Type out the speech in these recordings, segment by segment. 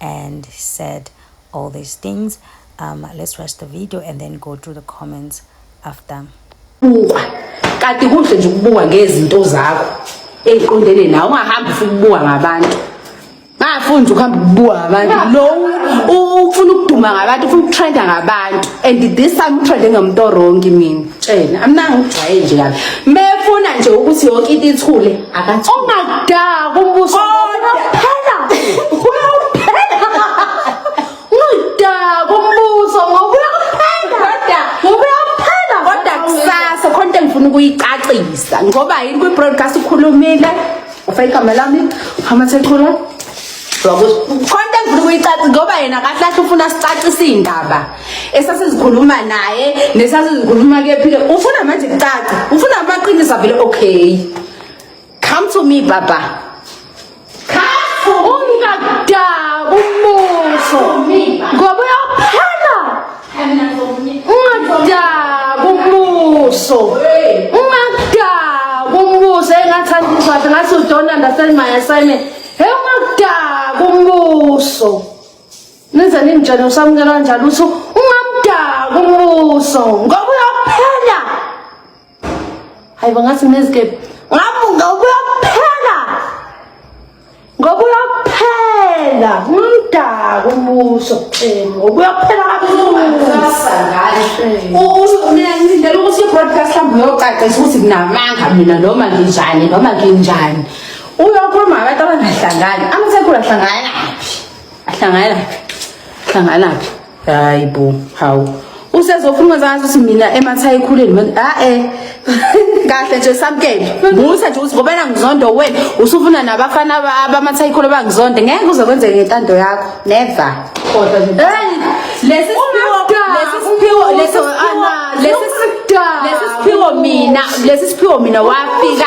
and said all these things um let's watch the video and then go through the comments after bukwa kanti kuhle nje ukubukwa ngezinto zakho eziqondene nawe ungahambi ufuna ukubukwa ngabantu ngafundi ukuhamba ukubukwa ngabantu lo ufuna ukuduma ngabantu ufuna ukutrenda ngabantu and this time utrende ngemnto wrongi mina tshena amnanga ujwaye nje kabi mefuna nje ukuthi yonke into ithule akathi ongadaka umbuso phela uyophela ungadaka umbuso ngoba uyophela kodwa ngoba uyophela kodwa kusasa khona into engifuna ukuyicacisa ngoba yini kwi broadcast ukhulumile ufake igama lami hamba sekhula wakuthi khona into engifuna ukuyicacisa ngoba yena kahle kahle ufuna sicacise indaba esasizikhuluma naye nesasizikhuluma kephi ke ufuna manje kucaca ufuna amaqiniso vele okay come to me baba ungakudaka umbuso ngoba uyaphela ungadaka umbuso ungadaka umbuso engathanda umshado ngathi udonanda send my assignment he ungakudaka umbuso Nize ningitshele usamukela kanjani ukuthi ungamdaka umbuso ngoba uyophela. Hayi bangathi nezikepe. Ngamu ngoba uyophela. Ngoba uyophela umdaka umbuso. Eh ngoba uyophela kabuhlungu. Ngilindele ukuthi i-broadcast hlambe uyocacisa ukuthi nginamanga mina noma nginjani noma nginjani. Uyokhuluma ngabantu abangahlangani. Amasekulu ahlangana naphi? ahlangana hlangana phi hayi bo hawu usezofuna uzazi ukuthi mina emathayi khuleni manje ah eh kahle nje samkele musa nje usivobela ngizondo wena usufuna nabafana abamathayi khulu bangizonde ngeke uze kwenzeke ngentando yakho never kodwa nje lesi siphiwo lesi siphiwo lesi siphiwo lesi siphiwo mina lesi siphiwo mina wafika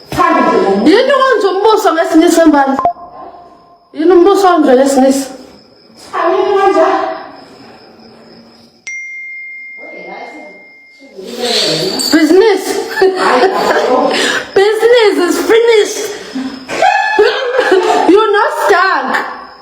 yini kwenza umbuso ngesinye isembali yini umbuso onje ngesinisa business business is finished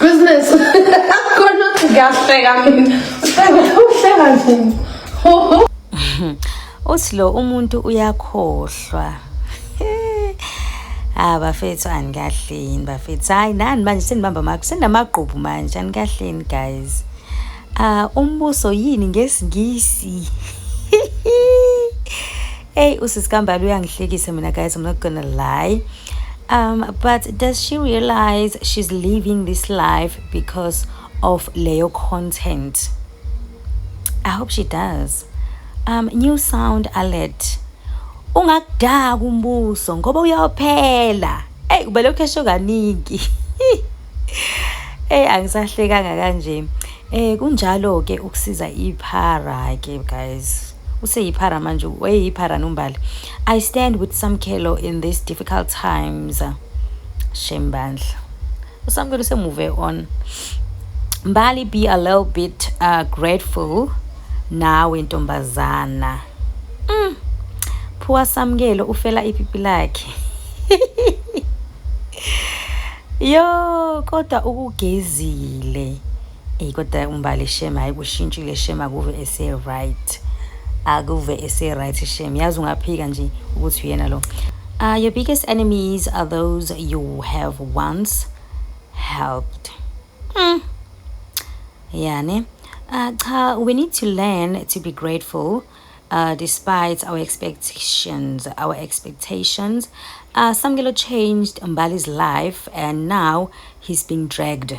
Business. Akhona ngiyahleka mina. Uhleka nzima. Uthi lo umuntu uyakhohlwa. Ah bafethu anikahleni bafethu. Hayi nani manje senibamba makho senamagqubu manje anikahleni guys. Ah umbuso yini ngesingisi? Hey usisi kambali uyangihlekisa mina guys I'm not gonna lie um but does she realize she's living this life because of leyo content I hope she does um new sound alert ungakudaka umbuso ngoba uyaphela hey ubelokhu esho kaningi hey angisahlekanga kanje eh kunjalo ke ukusiza iphara ke guys useyiphara manje wayeyiphara nombali i stand with samkhelo in these difficult times shame bandla usamkhelo usemove on mbali be a little bit uh, grateful nawe ntombazana mm. phuwa samkelo ufela ipipi lakhe yo kodwa ukugezile Eyi kodwa umbali shame hayi kushintshile shame akuve ese-right akuve ese-right shame yazi ungaphika nje ukuthi uyena lo uh, your biggest enemies are those you have once helped mm. yani uh, cha we need to learn to be grateful uh, despite our expectations our expectations uh, samkelo changed mbali's life and now he's being dragged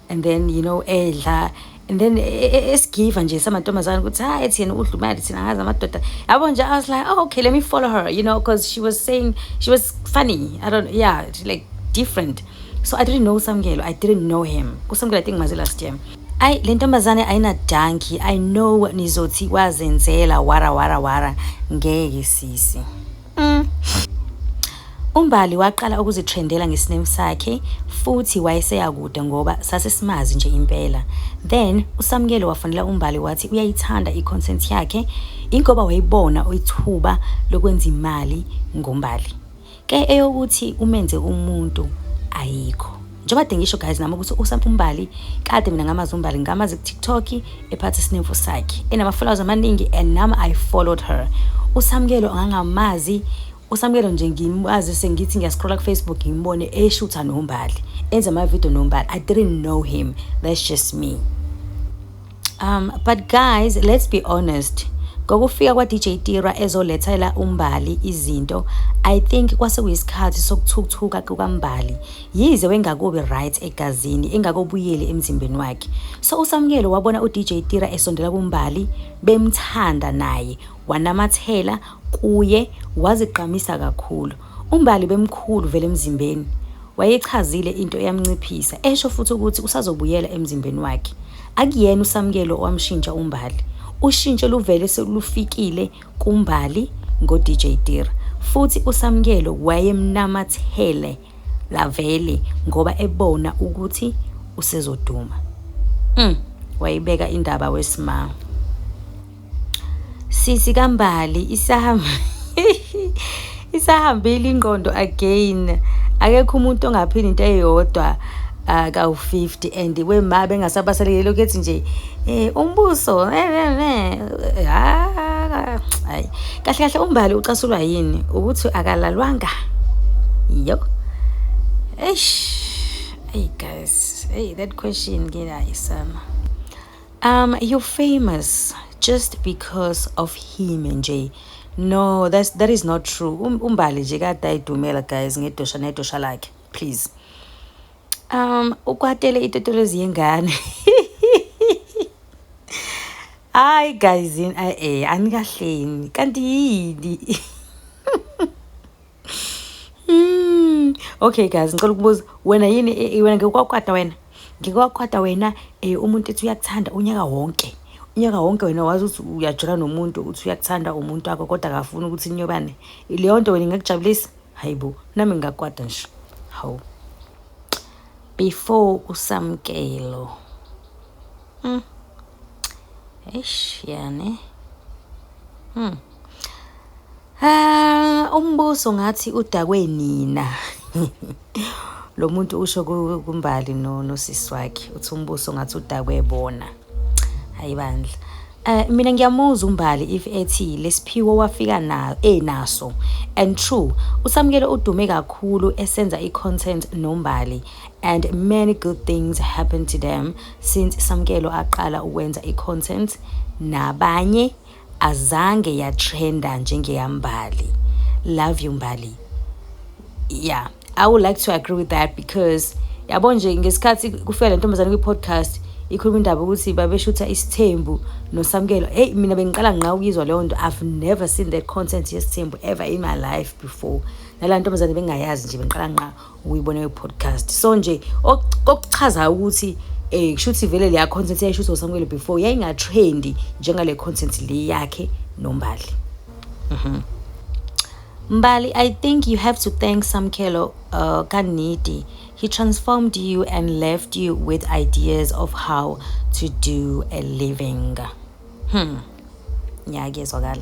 and then you know edla and then e, e, e, esigiva nje samantombazane ukuthi hayi ethi yena udla imali thina ngazi amadoda yabo nje i was like oh, okay let me follow her you know because she was saying she was funny i don't yeah like different so i didn't know samkelo i didn't know him kusamkelo i think mazi last year ayi le ntombazane ayinadanki i know nizothi wazenzela wara wara wara ngeke sisi Mm. UMbali waqala ukuzithrendela ngesinemu sakhe futhi wayeseya kude ngoba sasesimazi nje impela. Then uSamkele wafonela uMbali wathi uyayithanda i-content yakhe ingoba wayibona ithuba lokwenza imali ngoMbali. Ke eyokuthi umenze umuntu ayikho. njengoba de ngisho guys nami ukuthi usampa umbali kade mina ngamazi umbali ngamazi kutiktok ephatha isinemfu sakhe enama-followers amaningi and nami i followed her usamukelo angangamazi usamukelo nje ngimazi sengithi ngiyascrolla kufacebook ngimbone eshutha nombali enza amavidiyo nombali i didn't know him that's just me um but guys let's be honest ngokufika kwa-dj tira ezolethela umbali izinto i think kwase kuyisikhathi sokuthukuthuka kukambali yize wengakubi right egazini engakobuyeli emzimbeni wakhe so usamukelo wabona udj tira esondela kumbali bemthanda naye wanamathela kuye wazigqamisa kakhulu UMbali bemkhulu vele emzimbeni. Wayeyichazile into eyamnciphisa, esho futhi ukuthi usazobuyela emzimbeni wakhe. Akuyena uSamkelo owamshintsha uMbali. Ushintsho luvele selufikile kuMbali ngoDJ Tira. Futhi uSamkelo wayemnamathele lavele ngoba ebona ukuthi usezoduma. Mm, wayibeka indaba wesimanga. Sisi kambali isahamba isahambile ingqondo again akekho umuntu ongaphila into eyodwa uh, kawu-50 and wema bengasabasalekile lokhu ethi nje um umbuso eh, eh, eh, ah, hayi kahle kahle umbali ucasulwa yini ukuthi akalalwanga yo eish hey guys hey that question nginayo sana Um, you're famous just because of him nje. No, that's that is not true. Um, umbali nje kade ayidumela guys ngedosha nedosha lakhe. Please. Um, ukwatele itotolozi yengane. Hayi guys, eh anikahleni. Kanti yini? Mm. Okay guys, ngicela ukubuza wena yini eh, eh, wena ngikwakwata wena. Ngikwakwata wena eh umuntu ethi uyakuthanda unyaka wonke. Unyaka wonke wena wazi ukuthi uyajula nomuntu uthi uyakuthanda umuntu wakho kodwa akafuni ukuthi inyobane. Leyo nto wena ingakujabulisa? Hayibo, nami ngingakwata nje. Hawu. Before usamkelo. Mm. Eish yani. Hmm. Ah, umbuso ngathi udakwe nina. Lo muntu usho kumbali no nosisi wakhe uthi umbuso ngathi udakwe bona. Hayi bandla. Uh, mina ngiyamuzwa umbali if ethi lesiphiwo wafika na enaso and true usamukele udume kakhulu esenza i-content nombali and many good things happen to them since samukelo aqala ukwenza i-content nabanye azange yatrenda njengeyambali love you mbali yeah i would like to agree with that because yabo nje ngesikhathi kufika le ntombazane kwi-podcast ikhuluma indaba ukuthi babeshutha isithembu nosamkelo eyi mina bengiqala nqa ukuyizwa leyo nto i've never seen that content yesithembu ever in my life before nala ntombazane bengayazi nje bengiqala nqa uyibona yo podcast so nje okuchazayo ukuthi eh kusho ukuthi vele leya content yayishuthi uSamuel before yayinga trendy njengale content le yakhe nombali mhm Mbali, I think you have to thank Samkelo uh, Kaniti. He transformed you and left you with ideas of how to do a living. Hmm. Yeah, I guess I got